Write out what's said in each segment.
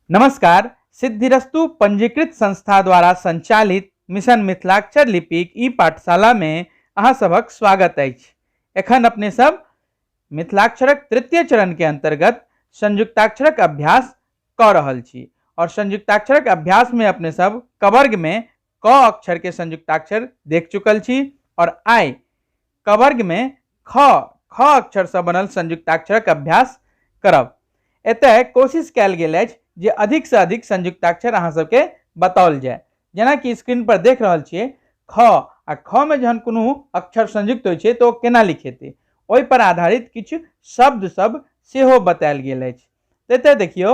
नमस्कार सिद्धिरस्तु पंजीकृत संस्था द्वारा संचालित मिशन मिथिलाक्षर लिपिक ई पाठशाला में अहाँ सभक स्वागत अछि एखन अपने सब मिथिलाक्षरक तृतीय चरण के अंतर्गत संयुक्ताक्षरक अभ्यास कऽ रहल छी और संयुक्ताक्षरक अभ्यास में अपने सब कवर्ग में क अक्षर के संयुक्ताक्षर देख चुकल छी और आय क वर्ग में ख ख अक्षर से बनल संयुक्ताक्षरक अभ्यास करब एतय कोशिश कयल गेल अछि जे अधिक से अधिक संयुक्ताक्षर अहाँ सबके बताओल जाय जेना कि स्क्रीन पर देख रहल छियै ख आ ख में जहन कोनो अक्षर संयुक्त होइ छै तो केना लिखेतै ओहि पर आधारित किछु शब्द सब सेहो बतायल गेल अछि एतय देखियौ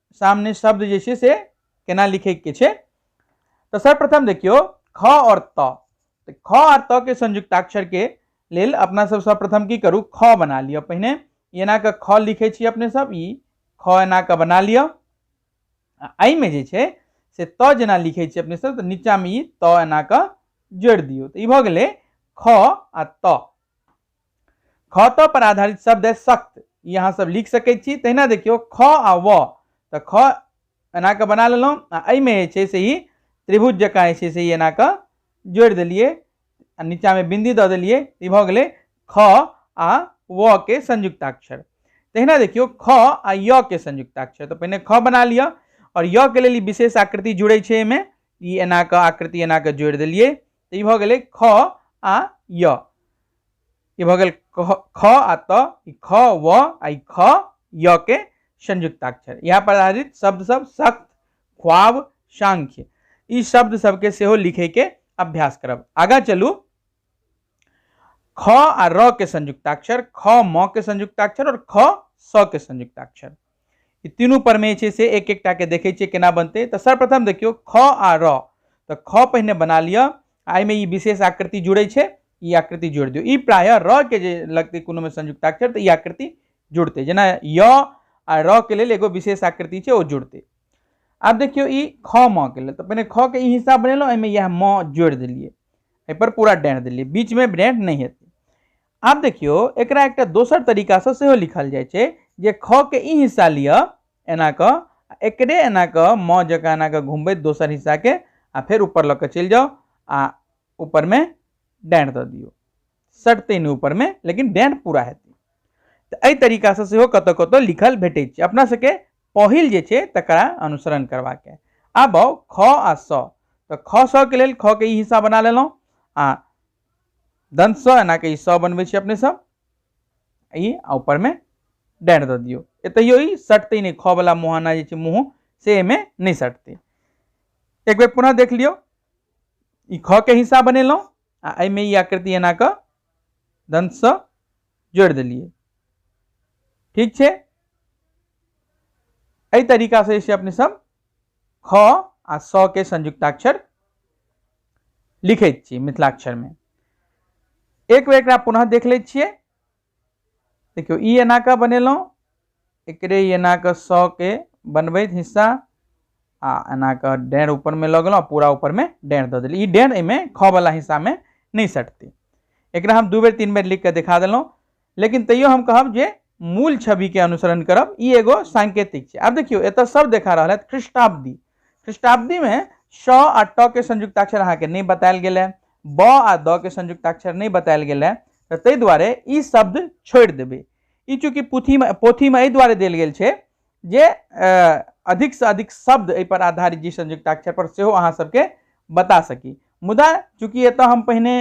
सामने शब्द जे छै से केना लिखैके छै तऽ सर्वप्रथम देखियौ ख आओर त तऽ ख आओर त के संयुक्ताक्षरके लेल अपना सब सर्वप्रथम की करू ख बना लिअ पहिने एना कऽ ख लिखै छी अपने सब ई ख एना कऽ बना लिअ आ एहिमे जे छै से त जेना लिखै छी अपने सब तऽ नीचाँमे ई त एना कऽ जोड़ि दियौ तऽ ई भऽ गेलै ख आ त ख त पर आधारित शब्द है सख्त ई अहाँ सब लिख सके छी तहिना देखियो ख आ व त ख एना के बना लेलहुँ आ एहिमे जे छै से ई त्रिभुज जकाँ जे छै से ई एना के जोड़ि देलियै आ नीचाँमे बिन्दी दऽ देलियै ई भऽ गेलै ख आ व के संयुक्ताक्षर तहिना देखियो ख आ य के संयुक्ताक्षर तऽ पहिने ख बना लिअ आओर य के लेल ई विशेष आकृति जुड़ै छै एहिमे ई एना के आकृति एना के जोड़ि देलियै तऽ ई भऽ गेलै ख आ य ई भऽ गेल ख आ त ई ख व आ ई ख य के संयुक्ताक्षर इएह पर आधारित शब्द सब सख्त ख्वाब सांख्य ई शब्द सबके सेहो लिखैके अभ्यास करब आगाँ चलू ख आ र के संयुक्ताक्षर ख म के संयुक्ताक्षर और ख स के संयुक्ताक्षर ई तीनू परमे छै से एक एकटाके देखै छियै केना बनतै तऽ सर्वप्रथम देखियौ ख आ र तऽ ख पहिने बना लिअ आ एहिमे ई विशेष आकृति जुड़ै छै ई आकृति जोड़ि दियौ ई प्रायः र के जे लगतै कोनोमे संयुक्ताक्षर तऽ ई आकृति जुड़तै जेना य आ र के लेल एगो विशेष आकृति छै ओ जुड़तै आब देखियौ ई ख म के लेल तऽ पहिने ख के ई हिस्सा बनेलहुँ एहिमे इएह म जोड़ि देलियै एहिपर पूरा डाँहि देलियै बीचमे डाँहि नहि हेतै आब देखियो एकरा एकटा दोसर तरीका से सेहो लिखल जाय छै जे ख के ई हिस्सा लिअ एना क आ एकरे एना क म जकाँ एना क घुमबैत दोसर हिस्सा के आ फेर ऊपर लऽ के चलि जाओ आ ऊपर में डाँड़ दऽ दियौ सटतै नहि ऊपर में लेकिन डाँड़ पूरा हेतै तऽ एहि तरीका से सेहो कतौ कतौ लिखल भेटै छै अपना सबके पहिल जे छै तकरा अनुसरण करबाक है आब आउ ख आ स तऽ ख स के लेल ख के ई हिस्सा बना लेलहुँ आ दंत स एना के ई स बनबै छी अपने सब ई आ ऊपर में डैर द दियो एतहियो ई सटते नहीं ख वाला मुहाना जे छै मुँह से एमे नहीं सटते एक बेर पुनः देख लियो ई ख के हिस्सा बनेलहुँ आ एहिमे ई आकृति एना कऽ दन्तसँ जोड़ि देलियै ठीक छै एहि तरीकासँ जे छै अपने सब ख आ स के संयुक्ताक्षर लिखे छी मिथिलाक्षर में एक बेर एक पुनः देख ले छे देखियो ई एना के बनेलहुँ एक एना के स के बनबैत हिस्सा आ एना के डेढ़ ऊपर में लग गेलहुँ पूरा ऊपर में डेढ़ दऽ देली ई डेढ़ एहिमे ख वाला हिस्सा में नहीं सटती एक हम दू बेर तीन बेर लिख के दिखा दिलों लेकिन तैयो हम कहब जे मूल छवि के अनुसरण करब ई एगो सांकेतिक छै आब देखियो एतऽ सब देखा रहल है ख्रिस्टाब्दी ख्रिस्टाब्दी में श आ ट के संयुक्ताक्षर अहाँ के नहीं बतायल गेल है ब आ द के संयुक्ताक्षर नहीं बतायल गेल है तऽ ताहि दुआरे ई शब्द छोड़ि देबै ई चूँकि पोथीमे पोथीमे एहि दुआरे देल गेल छै जे अ, अधिकसँ अधिक शब्द एहिपर आधारित जी संयुक्ताक्षर पर सेहो अहाँ सबके बता सकी मुदा चूँकि एतऽ हम पहिने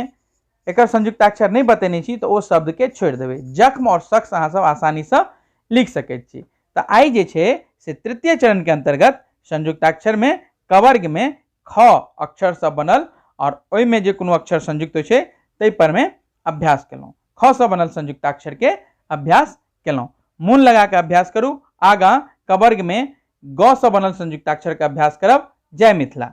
एकर संयुक्ताक्षर नहीं बतेने छी तो ओ शब्द के छोड़ देवे जख्म और शख्स अहाँ सब आसानी से लिख सके छी तो आई जे छे से तृतीय चरण के अंतर्गत संयुक्ताक्षर में कवर्ग में ख अक्षर सब बनल और ओहि में जे कोनो अक्षर संयुक्त होय तै पर में अभ्यास केलहुँ ख से बनल संयुक्ताक्षर के अभ्यास केलहुँ मोन लगा के अभ्यास करू आगा कवर्ग में ग से बनल संयुक्ताक्षर के अभ्यास करब जय मिथिला